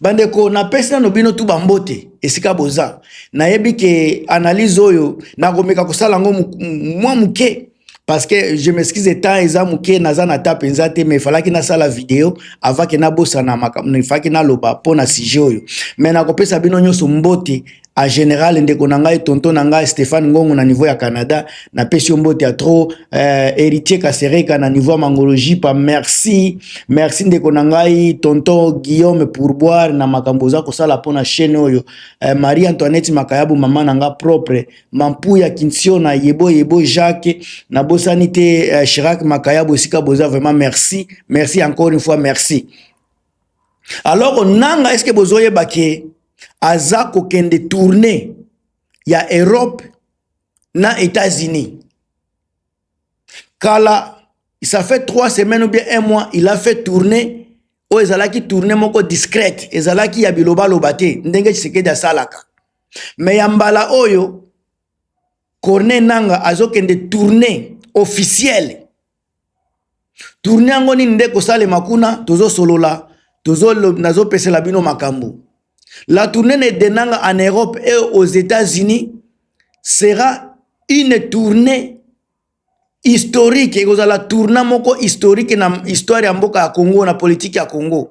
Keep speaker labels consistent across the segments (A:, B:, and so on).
A: bandeko napesi nano bino tu bambote esika boza nayebi ke analyse oyo nakomeka kosala yango mwa moke parce que je m'excuse temps eza moke naza na ta mpenza te mais efalaki nasala video avake nabosana makambo efalaki naloba mpo na sujet oyo mais nakopesa bino nyonso mbote a general ndeko na ngai tonton na ngai Stéphane Ngongo na niveau ya Canada na pesi yo mbote ya trop euh, héritier Kasereka na niveau ya mangologie pa merci merci ndeko na ngai tonton Guillaume Pourboire na makambo oza kosala pona chaîne oyo euh, Marie Antoinette Makayabu mama na nga propre mampu ya Kinsio na yebo yebo Jacques na bosani te euh, Chirac Makayabu esika boza vraiment merci merci encore une fois merci alors nanga eske bozoyeba ke aza kokende tourne ya europe na états-unis kala ça fait trois semaines ou bien un mois il a fait tourner oyo ezalaki tourne moko discrète ezalaki ya bilobaloba te ndenge tshisekedi asalaka me ya mbala oyo corne nanga azokende tourne officiele tourne yango nini nde kosalema kuna tozosolola nazopesela bino makambo la tourne ne denanga en europe et aux états-unis sera une tournée historique ekozala tourna moko historique na histoire ya mboka ya congo na politike ya congo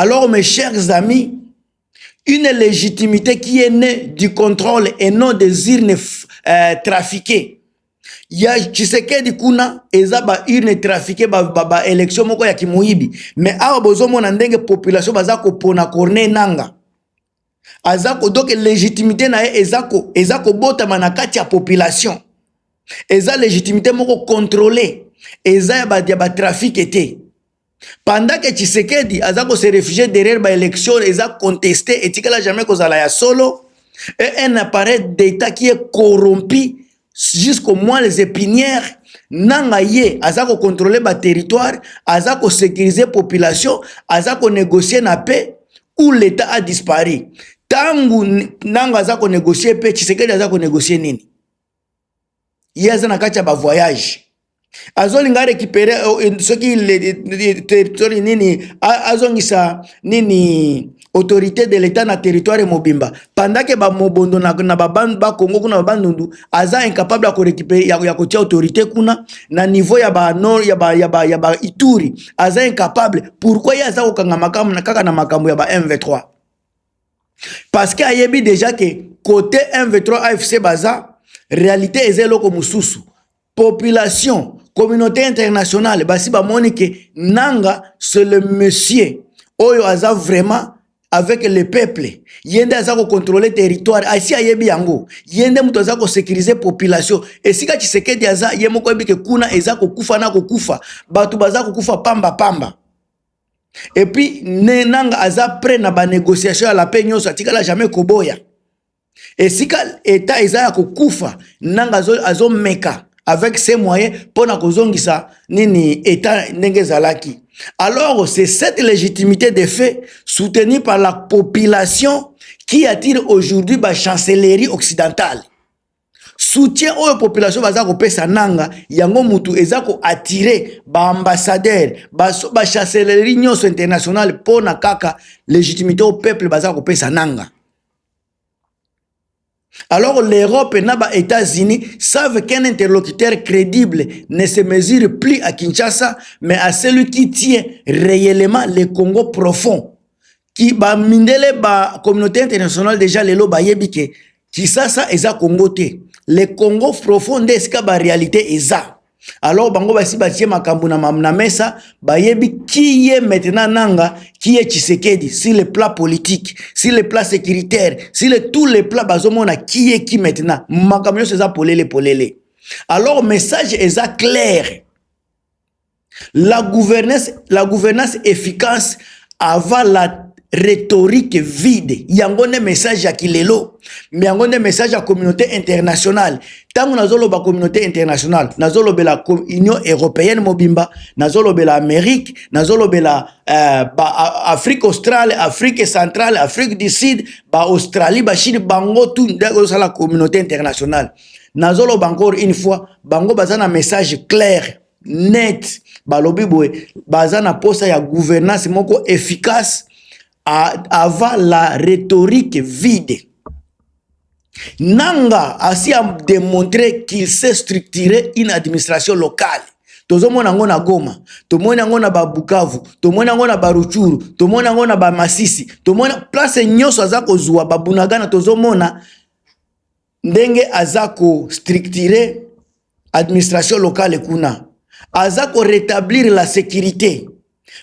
A: Alors mes chers amis, une légitimité qui est née du contrôle et non des urnes euh, trafiquées. ya tshisekedi kuna eza baurne trafiqué baélection ba, ba moko ya kimoyibi mais awa bozomona ndenge population baza kopona corne nanga aza kodoke légitimité na ye eza kobotama na kati ya population eza légitimité moko contrôle eza ya batrafique ba te pendant que Tshisekedi aza ko se réfugier derrière ba élections eza contesté etikala jamais kozala ya solo et un appareil d'état qui est corrompu jusqu'au moins les épinières nanga ye aza ko contrôler ba territoire aza ko sécuriser population aza ko négocier na paix où l'état a disparu tangu nanga aza ko négocier paix Tshisekedi aza ko négocier nini ye aza na kati ya bavoyage azolinga arekipere oh, eh, soki eh, territoire nini azongisa nini autorité de l'état na territoire mobimba pendant ke bamobondo na, na bakongo kuna babandundu aza incapable ya korekipere ya, ya kotia autorité kuna na niveau ya banor ya ba, ya ba, ya ba ituri aza incapable pourquoi ye aza kokanga makambo na kaka na makambo ya ba mv3 parce que ayebi déjà que côté mv3 afc baza réalité eza eloko mosusu population communauté internationale basi bamoni ke nanga c'est le monsieur oyo aza vraiment avec le peuple ye nde aza kocontrole territoire asi ayebi yango ye nde moto aza kosécurise population esika tshisekedi aza ye moko ayebi ke kuna eza kokufa na kokufa bato baza kokufa pamba pamba Et puis Nenanga aza prêt na ba négociation à la paix nyonso atikala jamais koboya. Esika état eza ya kokufa Nanga azo, azo meka avec ses moyens pona kozongisa nini état ndenge ezalaki. Alors c'est cette légitimité des faits soutenue par la population qui attire aujourd'hui ba chancellerie occidentale. soutien oyo population baza kopesa nanga yango mutu eza koattire baambassadeur bachaselerie nyonso internationale mpo na kaka légitimité oyo peuple baza kopesa nanga alors l'europe na ba états-unis savent qu'un interlocuteur crédible ne se mesure plus à kinshasa mais à celui qui tient réellement le congo profond ki ba mindele ba communauté internationale déjà lelo bayebi ke kisasa eza congo te le congo profond nde esika ba réalité eza alors bango basi batie makambo na, na mesa bayebi qui est maintenant nanga qui est tshisekedi sur le plat politique sur le plat sécuritaire sur le, tous les plats bazomona qui est qui maintenant makambo nyonso eza polele polele alors message eza claire La gouvernance, la gouvernance efficace avant la rhétorique vide yango nde message ya kilelo me yango nde message ya communauté internationale ntango nazoloba communauté internationale nazolobela union européenne mobimba nazolobela amérique nazolobela euh, afrique australe afrique centrale afrique du sud baaustralie bachine bango tu nde ozosala communauté internationale nazoloba encore une fois bango baza na message claire net balobi boye baza na posa ya gouvernance moko efficace avant la rhétorique vide nanga asi a démontré qu'il sait structurer une administration locale tozomona yango na goma tomoni yango na babukavu tomoni yango na baruchuru tomoni yango na bamasisi tomoni place nyonso aza kozwa babunagana tozomona ndenge aza ko structurer administration locale kuna aza ko rétablir la sécurité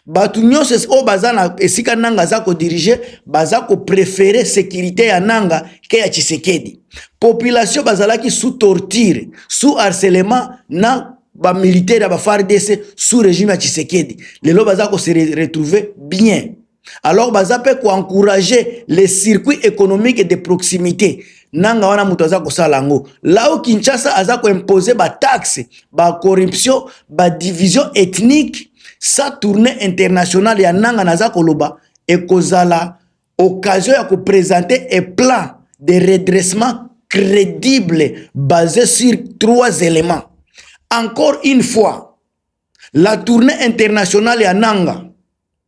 A: bato nyonso oyo baza na esika nanga aza kodirige baza koprefere sécurité ya nanga ke ya tshisekedi population bazalaki sous torture sous harcelement na bamilitaire ya bafardc sous régime ya tshisekedi lelo baza kose retrouve bien alors baza mpe koencourage le circuit économique de proximité nanga wana moto aza kosala yango lao kinshasa aza koimpose bataxe bacorruption badivision ethnique sa tournée internationale ya nanga naza koloba ekozala occasion ya kopresente e plan de redressement crédible basé sur trois éléments encore une fois la tournée internationale ya nanga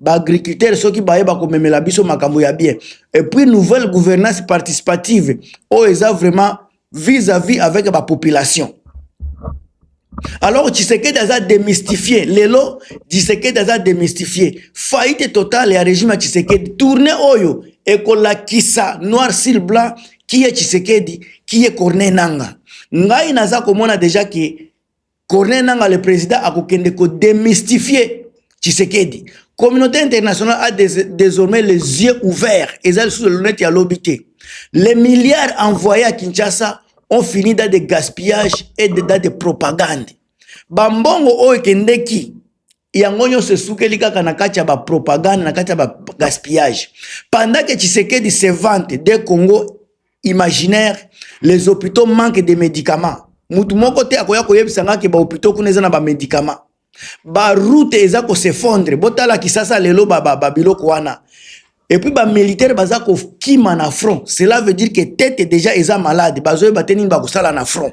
A: baagriculteurs soki baye bakomemela biso makambo ya bien et puis nouvelle gouvernance participative oyo eza vraiment vis à vis avec bapopulation alors tshisekedi aza démystifie lelo tshisekedi aza démystifie faillite totale ya régime ya tshisekedi tourne oyo ekolakisa noir sur blanc kiye tshisekedi kiye corne nanga ngai naza komona deja ke Corneille Nanga le président akokende ko démystifier Tshisekedi. Communauté internationale a des, désormais les yeux ouverts. Eza sous le lunette ya lobi te. Les milliards envoyés à Kinshasa ont fini dans des gaspillages et dans des propagandes. Bambongo oyo ekendeki yango nyonso esukeli kaka na kati ya bapropagande na kati ya bagaspillage pendant ke tshisekedi se vante de congo imaginaire les hôpitaux manque de médicaments motu moko te akoya koyebisa ngai ke bahôpitaux kuna eza na bamédicament baroute eza kosefondre botala kisasa lelo babiloko ba, ba wana epuis bamilitaire baza kokima na front cela veut dire ke tete déjà eza malade bazoyeba te nini bakosala na front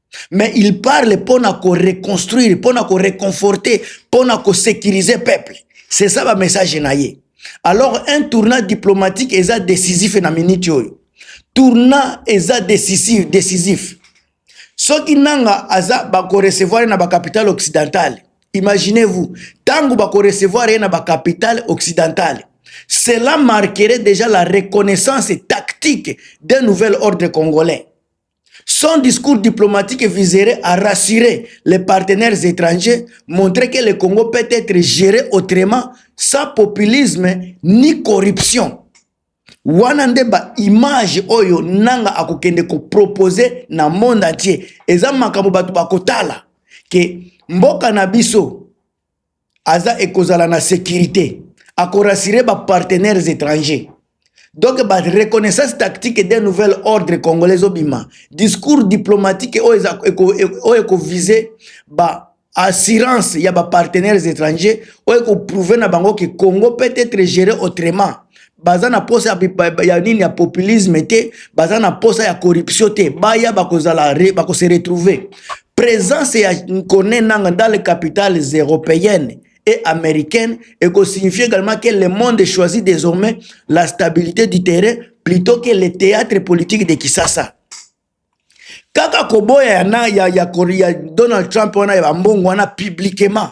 A: mais il parle mpo na koreconstruire mpo na koreconforte mpo na kosécurise peuple c'est ça bamessage na ye alors un tournant diplomatique eza décisif na minute oyo tournant eza décisif décisif soki nanga aza bakorecevoir ye na bacapitale occidentale imaginez-vous ntango bakorecevoir ye na bacapitale occidentale cela marquerait déjà la reconnaissance tactique d'un nouvel ordre congolais Son discours diplomatique viserait à rassurer les partenaires étrangers, montrer que le Congo peut être géré autrement, sans populisme ni corruption. wana nde baimage oyo nanga akokende kopropose na monde entier eza makambo bato bakotala ke mboka na biso aza ekozala na securite akorasire bapartenaires étrangers donc bareconnaissance tactique d'un nouvel ordre congolais ezobima discours diplomatique oyo e, ekovise ba assurance ya bapartenaires étrangers oyo ekoprouve na bango ke congo peut être géré autrement baza na posa ya nini ya populisme te baza na posa ya corruption te baya bakozala bakose retrouver présence ya nkone nanga dans les capitales européennes et américaines et que signifie également que le monde choisit désormais la stabilité du terrain plutôt que le théâtre politique de Kisasa. kaka koboya ya, na, ya, ya, ya donald trump wana ya bambongo wana publiquement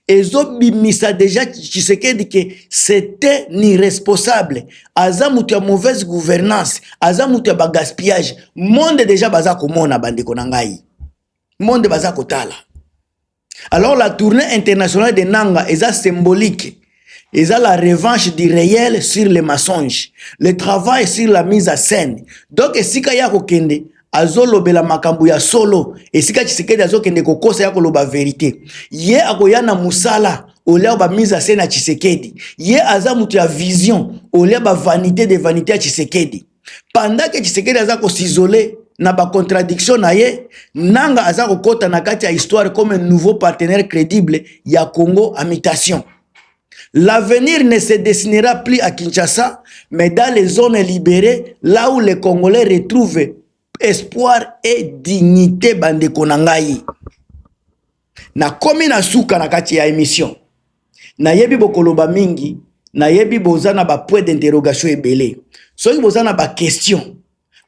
A: ezobimisa deja tshisekedi ke c'était irresponsable aza moto ya mauvaise gouvernance aza moto ya bagaspillage monde deja baza komona bandeko na ngai monde baza kotala alors la tournée internationale de nanga eza symbolique eza la revanche du réel sur le mensonge le travail sur la mise à scène donc esika ye akokende azolobela makambo ya solo esika tshisekedi azokende kokosa ya koloba verite ye akoya na mosala olia bamise ase na tshisekedi ye aza moto ya vision olia bavanité de vanité ya tshisekedi pendant que Tshisekedi aza ko s'isoler na ba contradiction na ye nanga aza kokota na kati ya histoire comme un nouveau partenaire crédible ya Congo à mutation L'avenir ne se dessinera plus à Kinshasa, mais dans les zones libérées, là où les Congolais retrouvent espoir et dignité bande konangayi. nakomi na suka na kati ya emission nayebi bokoloba mingi nayebi boza na bapoint d'interrogation ebele soki boza na baquestion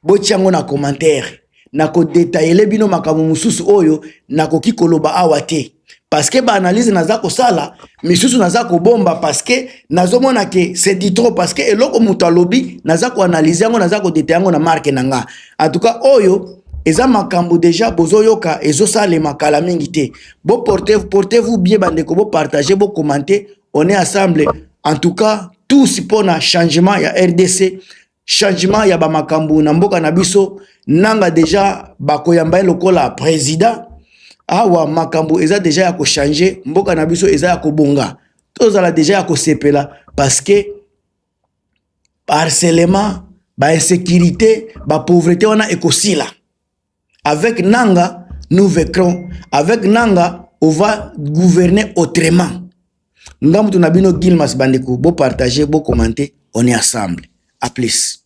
A: botya yango na commentaire nakodetaile bino makambo mosusu oyo nakoki koloba awa te parceke baanalyse naza kosala misusu naza kobomba parceke nazomona ke c'est du trop parceke eloko moto alobi naza koanalyse yango naza kodeta yango na marke na nga en tout cas oyo eza makambo deja bozoyoka ezosalema kala mingi te boporte porte vous bien bandeko bopartage bokomante on est ensemble en tout cas tous mpo na changement ya rdc changement ya bamakambo na mboka na biso nanga deja bakoyamba ye lokola président awa makambo eza deja ya kochange mboka na biso eza ya kobonga tozala deja ya kosepela parce que ba harcèlement ba insecurite ba pauvrete wana ekosila avec nanga nous vecron avec nanga on va gouverner autrement nga mutu na bino guilmas bandeko bo partage bo commente on est ensemble à plus